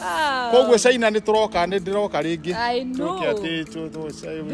Ah. koguo caina nä tåroka nä ndä roka rä ngä I know.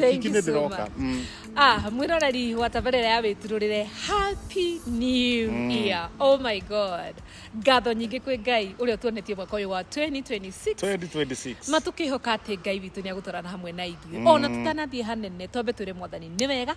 Thank you nä ndä so roka much. Mm. Ah, mwiroreri wa tabarĩra ya wĩtirũrĩre happy new mm. year oh my god ngatho nyingĩ kwĩ ngai ũrĩa ũtuonetie mwaka ũyũ wa 2026 2026 matũkĩhoka atĩ ngai witũ nĩ agũtwarana hamwe na ithuĩ mm. ona tũtanathiĩ hanene twambe twĩre mwathani nĩ wega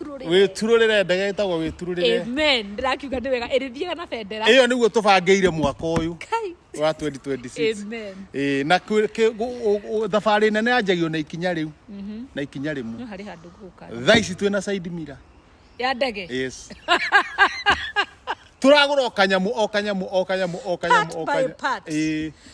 wĩturũrĩre wĩturũrĩre ndege ĩtagwo wĩturũrĩre amen ndĩrakiuga nĩ wega ĩrĩthiaga na bendera ĩyo nĩguo tũbangĩire mwaka ũyũ Kai. wa 2026 amen Ĩĩ, na kwĩ- kĩ- gũ- ũ- ũ- thabarĩ nene yanjagio na ikinya rĩu na ikinya rĩmwe no harĩ handũ ngũka thaa ici twĩ na side mirror ya ndege yes turagura o kanyamu o kanyamu o kanyamu o kanyamu Part o by kanyamu part. Ĩĩ.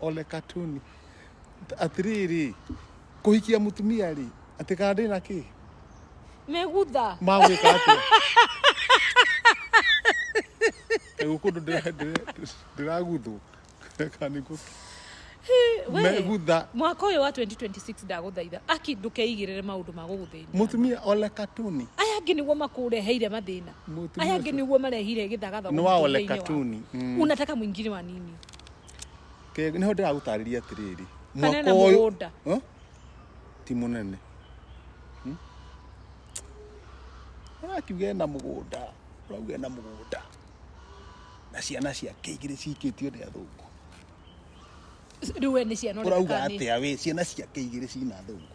ole katuni atiriri kuhikia mutumia ri ati kana ndi na ki megutha magwika atia riu kundu ndiraguthwo kaniguo We, megutha mwaka ũyũ wa 2026 ndagũthaitha aki ndũkeigĩrĩre maũndũ ma gũgũthĩnia mutumia ole katuni aya angĩ nĩguo makũreheire mathĩna Mũtumia aya angĩ ũcio. nĩguo marehire gĩthagathago Nĩ wa mũtũrĩre-inĩ ole waku. katuni, mm. unataka mwingine wa nini Ke- nĩho ndĩragũtarĩria atĩrĩrĩ Kana ena ũyũ- mũgũnda. Huh? ti mũnene Hmm? arakiuga ena mũgũnda ũrauga ena mũgũnda na ciana ciake igĩrĩ cikĩtio nĩ athũngũ rĩu we nĩ ciana ũrauga ũreka nĩ atĩa wĩ ciana ciake igĩrĩ cina athũngũ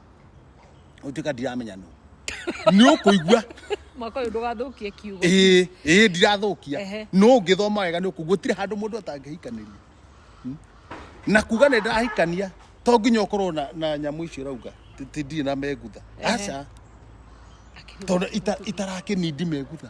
utuika ndiramenya no ni ukuigua mwaka uyu ndugathukie kiugo ii ii ndirathukia Ehe. no ngithoma wega ni ukuigua gutire handu mundu atangihikaniria Hmm? na kuga ni ndirahikania to nginya ukorwo na, na nyamu icio rauga ti- ti ndirĩ na megutha Ehe. aca Akĩruga tondu ita- itarakinindi megutha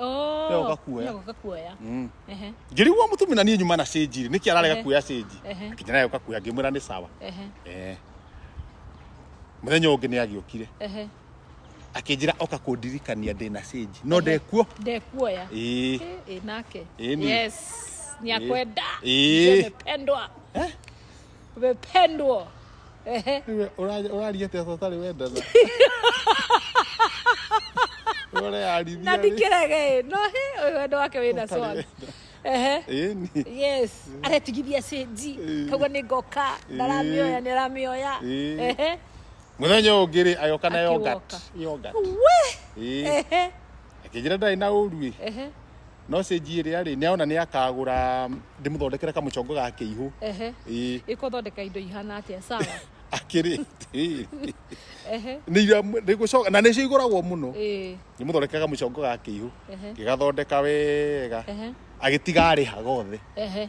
Oh. Yo, ũgakuoya. Yo, ũgakuoya. Mm. Ehe, ngĩrigwo mũtumi na niĩ nyuma na cĩnji rĩ nĩkĩ ararega Ehe. kuoya cĩnji Ehe. akinya nayo ũkakuoya ngĩmwĩra nĩ sawa ehe, Eh. mũthenya ũngĩ nĩ agĩũkire ehe. akĩnjĩra oka kũndirikania ndĩ na cĩnji no Ehe. ndekuo Ndekuoya. Ĩĩ. Eh, eh, nake. Ĩĩ ni. Yes. Ni akwenda. Ĩĩ. Nimependwa. Eh? umependwa ehe Wewe ũra- ũraria atĩa sasa ũtarĩ wendana Wewe ũreyarithia na rĩ? ndikĩrege no he ũyũ wendo wake wĩna Ũtarĩ swag wendana. ehe Ĩni. yes aretigithia cenji Eh. kauga nĩ ngoka Eh. ndaramĩoya nĩ aramĩoya Eh. ehe mũthenya ũyũ ũngĩ rĩ ayoka na Akĩwoka. yogurt. Yogurt. we Ĩ. ehe akĩnjĩra ndarĩ na ũru ĩ ehe no stage ĩrĩa rĩ nĩaona nĩ akagũra ndĩmũthondekere kamũcongo ga kĩihũ ehe ĩĩ ĩkũthondeka indo ihana atia sawa akĩrĩ ĩĩ ehe nĩ iria nĩ gũcoka na nĩcio igũragwo mũno ĩĩ ndĩmũthondekere kamũcongo ga kĩihũ ehe ngĩgathondeka wega ehe agĩtiga arĩha gothe ehe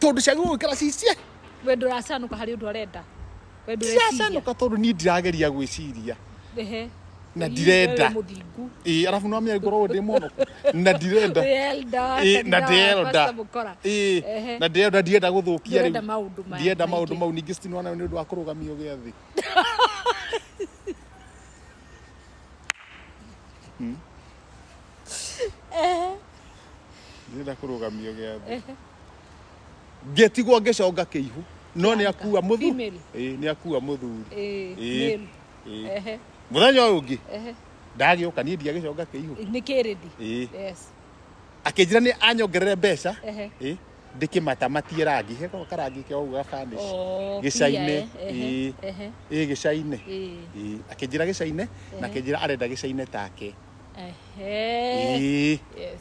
tondå ciagä gå ikara cicie we nduracanũka harĩ ũndũ arenda we ndũreciria ndiracanåka tondå niä ndirageria gwä ciria ehe Na Ii, ndirenda. wewe mũthingu ä arabu no menya ngoragwo ndä mono na ndirenda Elda, Ĩ, na kanitha wa ndĩrenda. Pastor Mũkora. Ĩ, Ehe. na ndĩrenda ndienda gå thå kia Ndũrenda maũndũ maya ndienda maingĩ. maå ndå mau ningä citinwana nä å ndå wa kå rå gamio gä a thä ndĩrenda kũrũgamio gĩathĩ Ehe. ngĩtigwo ngĩconga kĩihu no nĩ akua mũthu Female. Ĩĩ, nĩ akua mũthuri Eh, Ĩĩ. male. Ĩĩ. Ehe, mũthenya ũyũ ũngĩ ehe. ndagĩũka niĩ ndiagĩconga kĩihu nĩ kĩrĩndi Ĩĩ. Yes. akĩnjĩra nĩ anyongerere mbeca Ehe. Ĩĩ, ndĩkĩmatamatie rangi heko karangi kĩa ũguo gabanish Oh, Gĩcainĩ. pia, eh. Ehe, Ĩĩ. ehe, ĩĩ gĩcainĩ ĩĩ. Ĩĩ, akĩnjĩra gĩcainĩ na akĩnjĩra arenda gĩcainĩ take Ehe. Ĩĩ. Yes.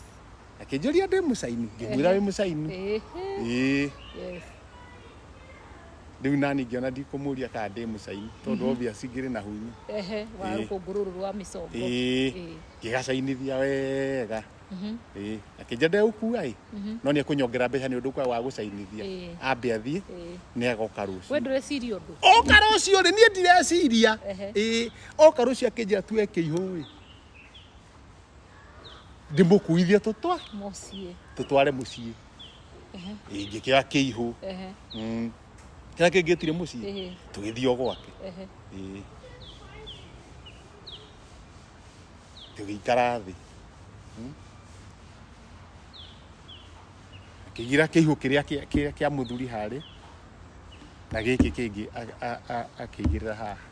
akĩnjũria ndĩ mũcaini ngĩmwĩra wĩ mũcaini Ehe. Ĩĩ. Yes. rĩu nani ngĩona ndikũmũria kana ndĩ mũcaini tondũ obvious ngĩrĩ na hunyu Ehe. Wa Ĩĩ. rũkũngũ rũrũ rwa mĩcongo. Ĩĩ. Ĩĩ. ngĩgacainithia wega Mhm. Ĩĩ. akĩnja ndegũkua ĩ Mhm. no nĩ ekũnyongera mbeca nĩ ũndũ kwa wa gũcainithia Ĩĩ. ambe athiĩ Ĩĩ. nĩ agoka We rũciũ ndũreciria ũndũ. oka rũciũ rĩ niĩ ndireciria Ehe. Ĩĩ. oka rũciũ akĩnjĩra tuoe kĩihũ-ĩ ndĩmũkuithie tũtwa Mũciĩ. tũtware mũciĩ Ehe. ingĩkĩoya kĩihũ Ehe. Mm. kĩrĩa kĩngĩ tire mũciĩ Ehe. tũgĩthiĩ o gwake Ehe. Ĩĩ. tũgĩikara thĩ Mm. akĩgira kĩihũ kĩrĩa kĩa- kĩa kĩa mũthuri harĩ na gĩkĩ kĩngĩ a- a- a- akĩigĩrĩra haha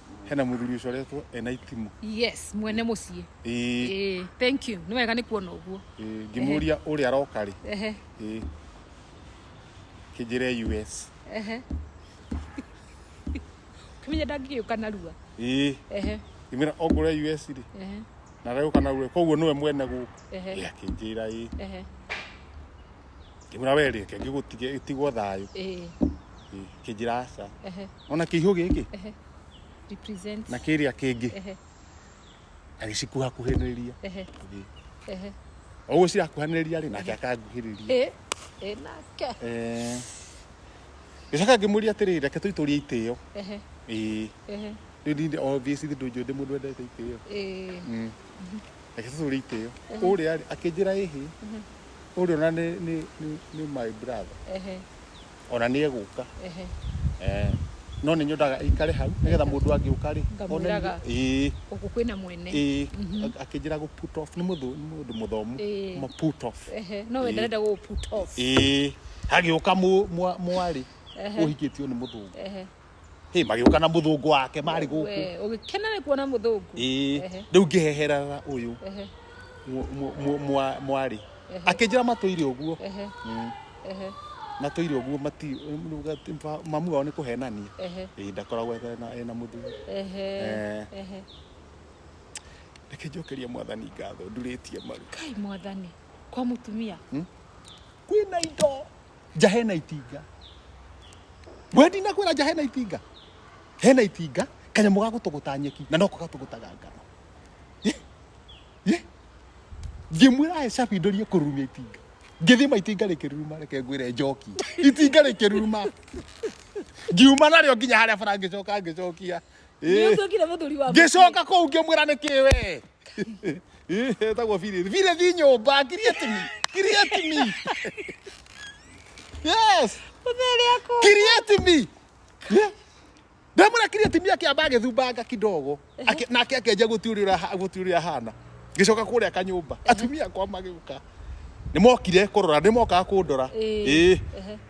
hena muthuri ucio aretwo ena itimu yes mwene muciĩ ĩĩ Ĩĩ, thank you nĩ wega nĩ kuona ũguo ĩĩ, ngĩmũria ũrĩa aroka rĩ Ehe, ĩĩ, kĩnjĩre us ehe. ũkĩmenya ndangĩgĩũka narua ĩĩ Ehe, ngĩmwĩra ongũre us rĩ ehe, na aragĩũka narua koguo nĩwe mwene gũkũ Ehe. Ĩĩ, akĩnjĩra ĩĩ ehe. ngĩmwĩra we reke ngĩgũtige ĩtigwo thayũ Eh, Ĩ, kĩnjĩra aca ehe, ona kĩihũ gĩkĩ ehe. Represent. na kĩrĩa kĩngĩ Ehe, agĩcikuhakuhĩrĩria ehe, Ĩ. ehe. ũguo cirakuhanĩrĩria rĩ nake akanguhĩrĩria Eh, eh, nake. Eh, gĩcoka ngĩmũria atĩrĩ reke tũitũrie itĩo Ehe, Ĩ, ehe, rĩu ninde obvious ndĩ ndũnjũ ndĩ mũndũ wendete itĩo eh. Mm. reke tũtũrie itĩo ũrĩa rĩ akĩnjĩra ĩhĩ Ũrĩa ona nĩ nĩ nĩ nĩ my brother. Ehe. Ona nĩ egũka. Ehe. Eh. No nĩ nyodaga aikare hau nĩgetha mũndũ angĩũka rĩ. Ngamwĩraga. Ĩĩ. Gũkũ kwĩna mwene. Ĩĩ. Akĩnjĩra gũ put off nĩ mũndũ nĩ mũndũ mũthomu. Ĩĩ. Ma put off. Ehe. No we ndarenda gũgũ put off. Ĩĩ. Hagĩũka mwarĩ ũhikĩtio nĩ mũthũngũ. Ehe. Hey, magĩũka na mũthũngũ wake marĩ gũkũ We, ũgĩkena nĩ kuona mũthũngũ Ĩĩ, Ehe, rĩu ngĩheherera ũyũ ehe, mwa- mwa- mwa- mwarĩ Ehe. akĩnjĩra matũire ũguo ehe, Mm, ehe, matũire ũguo mati mamu wao nĩ kũhenania ehe, Ĩĩ, ndakoragwo ena- ena mũthuri ehe, Eh. ehe. reke njokerie mwathani ngatho ndurĩtie maru kai mwathani kwa mũtumia kwĩna indo nja hena itinga we ndinakwĩra nja hena itinga hena itinga kanyamũ ga gũtũgũta nyeki na noko gatũgũtaga ngano Ĩ, ĩ. ngĩmwĩra aye cabi ndorie kũrurumia itinga ngĩthima itinga rĩkĩruruma reke ngwĩre njoki itinga rĩkĩruruma ngiuma narĩo nginya harĩa bara ngĩcoka ngĩcokia Nĩ ũtuĩkire mũthuri wa ngĩcoka kũu ngĩmwĩra nĩ kĩ we Ĩ, etagwo birĩthi birĩthi nyũmba kirietimi kirietimi yes mũthuri akwa. kirietimi ndamwĩra kirietimi akĩamba agĩthumbanga kidogo Akĩ- nake akĩanjia gũtiũrĩra ha- gũtiũrĩra hana ngĩcoka kũrĩa kanyũmba atumia akwa magĩũka nĩ mokire kũrora nĩ mokaga kũndora Ĩ, Ĩ. ehe.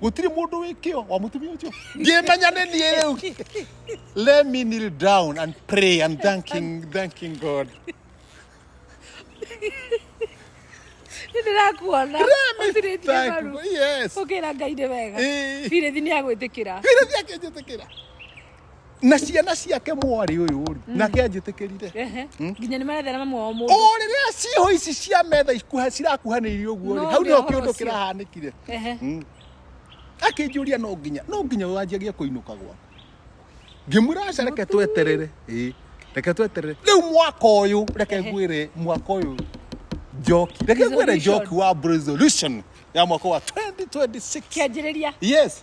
gutiri mundu wi kio wa mutumia ucio ngimenya ni nie riu let me kneel down and pray and thanking thanking god ndirakuona utirĩtie maru yes ukira ngai nĩ wega Eh. birithi nĩ agwĩtĩkĩra Birithi akĩnjĩtĩkĩra na ciana ciake mwarĩ ũyũ rĩ nake anjĩtĩkĩrire Ehe. nginya nĩ marethera mamu wao mũndũ o rĩrĩa ciĩho ici cia metha ikuha- cirakuhanĩirie ũguo rĩ No hau nĩ nĩho ũhoro kĩũndũ ũcio. kĩrahanĩkire Ehe. Mm. akĩnjũria no nginya no nginya wanjagia kũinũka gwaku ngĩmwĩra aca reke tweterere ĩĩ reke tweterere rĩu mwaka ũyũ reke Ehe. ngwĩre mwaka ũyũ njoki reke ngwĩre Resolution. njoki wa resolution ya mwaka wa 2026 kĩanjĩrĩria yes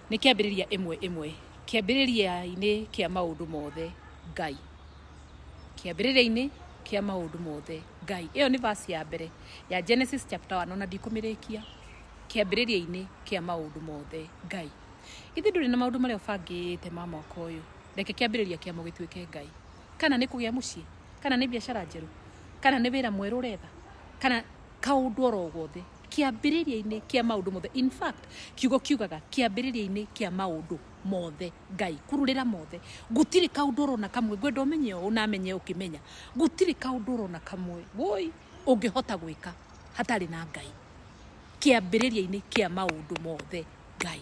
Nĩ kĩambĩrĩria ĩmwe ĩmwe. Kĩambĩrĩria-inĩ kĩa maũndũ mothe Ngai. Kĩambĩrĩria-inĩ kĩa maũndũ mothe Ngai. Ĩyo nĩ verse ya mbere ya Genesis chapter 1 ona ndikũmĩrĩkia. Kĩambĩrĩria-inĩ kĩa maũndũ mothe Ngai. Ithe ndũrĩ na maũndũ marĩa ũbangĩte ma mwaka ũyũ. Reke kĩambĩrĩria kĩamo gĩtuĩke Ngai. Kana nĩ kũgĩa mũciĩ, kana nĩ biacara njerũ, kana nĩ wĩra mwerũ ũretha, kana kaũndũ oro gothe. kĩambĩrĩria-inĩ kĩa maũndũ mothe in fact kiugo kiugaga kĩambĩrĩria-inĩ kĩa maũndũ mothe ngai kururĩra mothe gũtirĩ kaũndũ ũrona kamwe ngwenda ũmenye ũũ na amenye ũkĩmenya gũtirĩ kaũndũ ũrona kamwe woi ũngĩhota gwĩka hatarĩ na ngai kĩambĩrĩria-inĩ kĩa maũndũ mothe ngai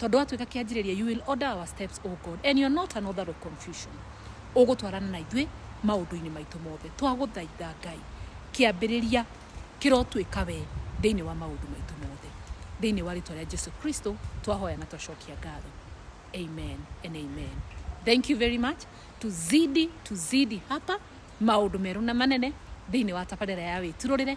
tondũ watuĩka kĩanjĩrĩria you will order our steps o god and you're not an author of confusion ũgũtwarana na ithuĩ maũndũ-inĩ maitũ mothe twagũthaitha ngai kĩambĩrĩria kĩrotuĩka we thĩinĩ wa maũndũ maitũ mothe thĩinĩ wa rĩtwa rĩa jesu kristo twahoya na twacokia ngatho amen and amen thank you very much tuzidi tuzidi hapa maũndũ merũ na manene thĩinĩ wa tabarĩra ya wĩturũrĩre